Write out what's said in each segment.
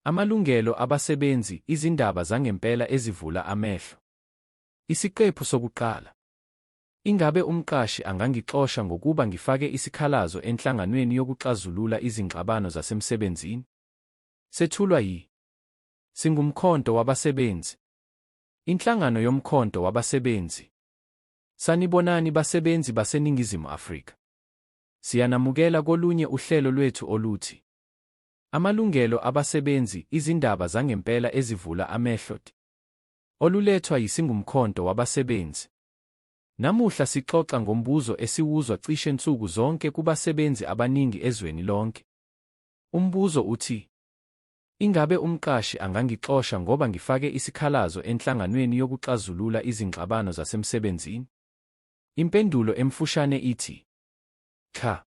Amalungelo abasebenzi, izindaba zangempela ezivula amehlo. Isiqephu sokuqala. Ingabe umqashi angangixosha ngokuba ngifake isikhalazo enhlanganweni yokuxazulula izingxabano zasemsebenzini? Sethulwa yi Singumkhonto wabasebenzi. Inhlangano yomkhonto wabasebenzi. Sanibonani basebenzi baseNingizimu Afrika. Siyanamukela kolunye uhlelo lwethu oluthi Amalungelo abasebenzi, izindaba zangempela ezivula amehlo ti. Olulethwa yiSingumkhonto wabasebenzi. Namuhla sixoxa ngombuzo esiwuzwa cishe nsuku zonke kubasebenzi abaningi ezweni lonke. Umbuzo uthi, Ingabe umqashi angangixosha ngoba ngifake isikhalazo enhlanganweni yokuxazulula izingxabano zasemsebenzini? Impendulo emfushane ithi, Cha.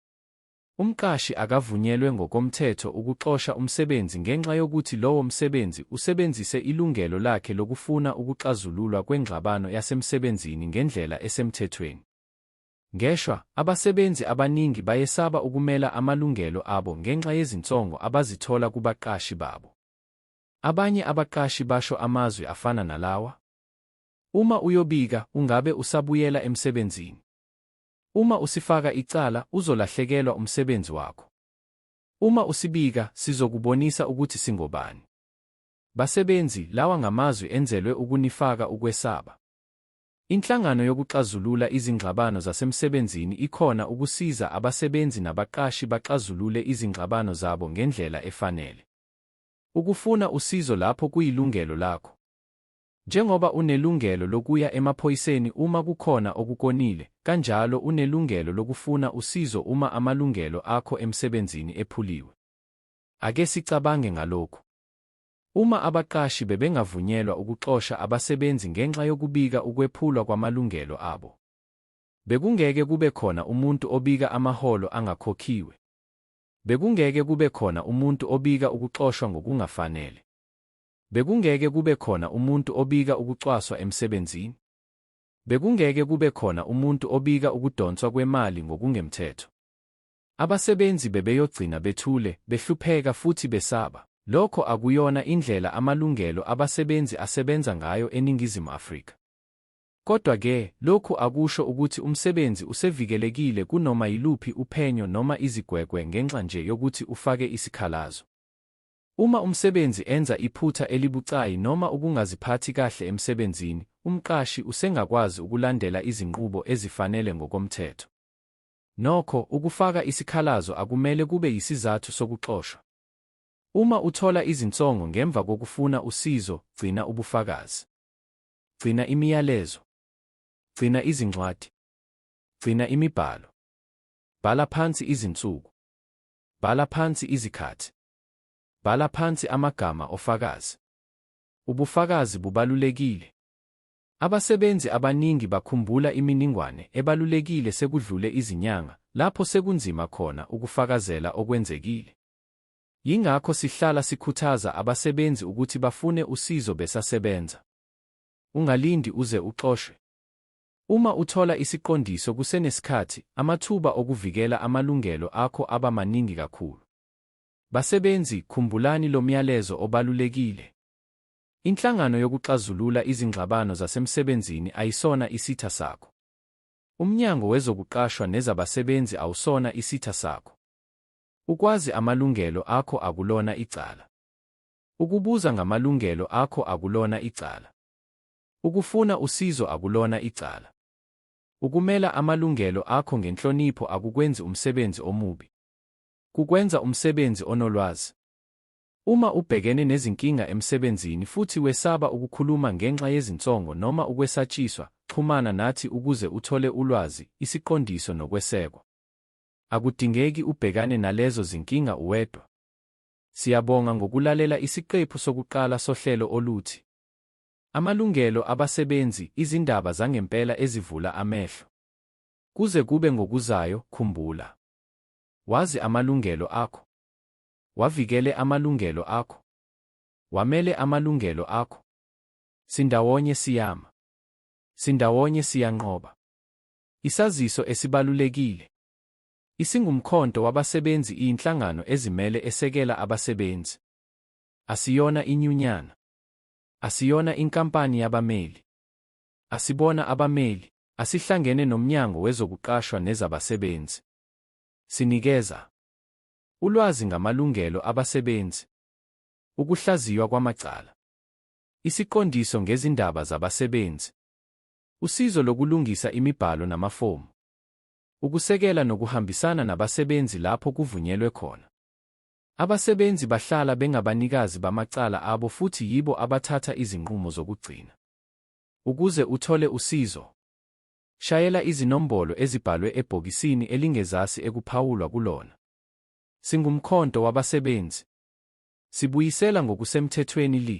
Umqashi akavunyelwe ngokomthetho ukuxosha umsebenzi ngenxa yokuthi lowo msebenzi usebenzise ilungelo lakhe lokufuna ukuxazululwa kwengxabano yasemsebenzini ngendlela esemthethweni. Ngeshwa, abasebenzi abaningi bayesaba ukumela amalungelo abo ngenxa yezinsongo abazithola kubaqashi babo. Abanye abaqashi basho amazwi afana nalawa, Uma uyobika, ungabe usabuyela emsebenzini. Uma usifaka icala, uzolahlekelwa umsebenzi wakho. Uma usibika, sizokubonisa ukuthi singobani. Basebenzi, lawa ngamazwi enzelwe ukunifaka ukwesaba. Inhlangano yokuxazulula izingxabano zasemsebenzini ikhona ukusiza abasebenzi nabaqashi baxazulule izingxabano zabo ngendlela efanele. Ukufuna usizo lapho kuyilungelo lakho. Njengoba unelungelo lokuya emaphoyiseni uma kukhona okukonile, kanjalo unelungelo lokufuna usizo uma amalungelo akho emsebenzini ephuliwe. Ake sicabange ngalokhu. Uma abaqashi bebengavunyelwa ukuxosha abasebenzi ngenxa yokubika ukwephulwa kwamalungelo abo, bekungeke kube khona umuntu obika amaholo angakhokhiwe. Bekungeke kube khona umuntu obika ukuxoshwa ngokungafanele. Bekungeke kube khona umuntu obika ukucwaswa emsebenzini. Bekungeke kube khona umuntu obika ukudonswa kwemali ngokungemthetho. Abasebenzi bebeyogcina bethule, behlupheka futhi besaba. Lokho akuyona indlela amalungelo abasebenzi asebenza ngayo eNingizimu Afrika. Kodwa-ke, lokhu akusho ukuthi umsebenzi usevikelekile kunoma yiluphi uphenyo noma izigwegwe ngenxa nje yokuthi ufake isikhalazo. Uma umsebenzi enza iphutha elibucayi noma ukungaziphathi kahle emsebenzini, umqashi usengakwazi ukulandela izinqubo ezifanele ngokomthetho. Nokho, ukufaka isikhalazo akumele kube yisizathu sokuxoshwa. Uma uthola izinsongo ngemva kokufuna usizo, gcina ubufakazi. Gcina imiyalezo. Gcina izincwadi. Gcina imibhalo. Bhala phansi izinsuku. Bhala phansi izikhathi. Bhala phansi amagama ofakazi. Ubufakazi bubalulekile. Abasebenzi abaningi bakhumbula iminingwane ebalulekile sekudlule izinyanga lapho sekunzima khona ukufakazela okwenzekile. Yingakho sihlala sikhuthaza abasebenzi ukuthi bafune usizo besasebenza. Ungalindi uze uxoshwe. Uma uthola isiqondiso kusenesikhathi, amathuba okuvikela amalungelo akho aba maningi kakhulu. Basebenzi, khumbulani lo myalezo obalulekile. Inhlangano yokuxazulula izingxabano zasemsebenzini ayisona isitha sakho. UMnyango wezokuQashwa nezabaSebenzi awusona isitha sakho. Ukwazi amalungelo akho akulona icala. Ukubuza ngamalungelo akho akulona icala. Ukufuna usizo akulona icala. Ukumela amalungelo akho ngenhlonipho akukwenzi umsebenzi omubi. kukwenza umsebenzi onolwazi. Uma ubhekene nezinkinga emsebenzini futhi wesaba ukukhuluma ngenxa yezinsongo noma ukwesatshiswa, xhumana nathi ukuze uthole ulwazi, isiqondiso nokwesekwa. Akudingeki ubhekane nalezo zinkinga uwedwa. Siyabonga ngokulalela isiqephu sokuqala sohlelo oluthi Amalungelo Abasebenzi, Izindaba Zangempela Ezivula Amehlo. Kuze kube ngokuzayo, khumbula. Wazi amalungelo akho. Wavikele amalungelo akho. Wamele amalungelo akho. Sindawonye siyama. Sindawonye siyanqoba. Isaziso esibalulekile. Isingumkhonto wabasebenzi iyinhlangano ezimele esekela abasebenzi. Asiyona inyunyana. Asiyona inkampani yabameli. Asibona abameli. Asihlangene nomnyango wezokuqashwa nezabasebenzi. Sinikeza ulwazi ngamalungelo abasebenzi, ukuhlaziywa kwamacala, isiqondiso ngezindaba zabasebenzi, usizo lokulungisa imibhalo namafomu, ukusekela nokuhambisana nabasebenzi lapho kuvunyelwe khona. Abasebenzi bahlala bengabanikazi bamacala abo futhi yibo abathatha izinqumo zokugcina. Ukuze uthole usizo, Shayela izinombolo ezibhalwe ebhokisini elingezasi ekuphawulwa kulona. SinguMkhonto wabasebenzi. Sibuyisela ngokusemthethweni li.